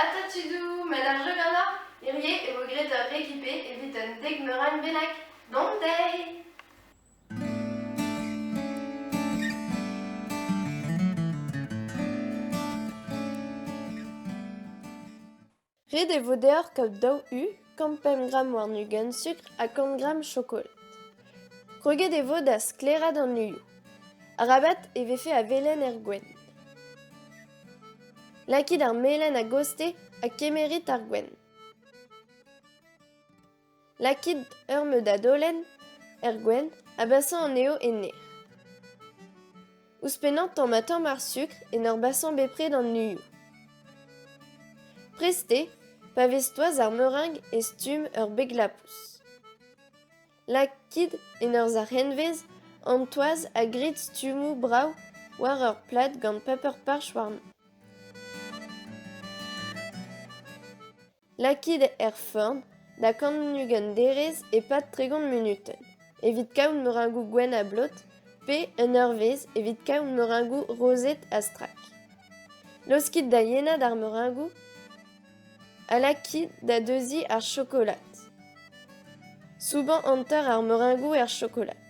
Ata tudoù met a-dreu ganeoc'h hirie e vo graet ur rekipe evit un dek meurenn bennak. Dont dezhi! Ret e vo deoc'h kaout daou u kant pemp gramm warn-ugent sukr ha kant gramm chokolat. Kroget e vo da sklaeraat an uioù. Arabat e vefe a velen er gwenn. Lakit ar melen a-goste ha kemerit ar gwenn. Lakit ur meud adolenn er gwenn ha basañ anezho en aer. Ouzhpennañ tamm ha tamm ar sukr en ur basañ bepred an uioù. Prest eo pa vez toaz ar meurang e stumm ur beg-lapous. Lakit en ur zac'henvez an toaz ha grit stummoù brav war ur plad gant paper-parch warni. Lakit er feurm da kant-ugent derez e-pad tregont munutenn, evit kaout meurengoù gwenn ha blot, pe un eurvezh evit kaout meurengoù rozet ha strak. Laoskit da yenad ar meurengoù ha lakit da deuziñ ar chokolad. Soubañ hanter ar meurengoù er chokolad.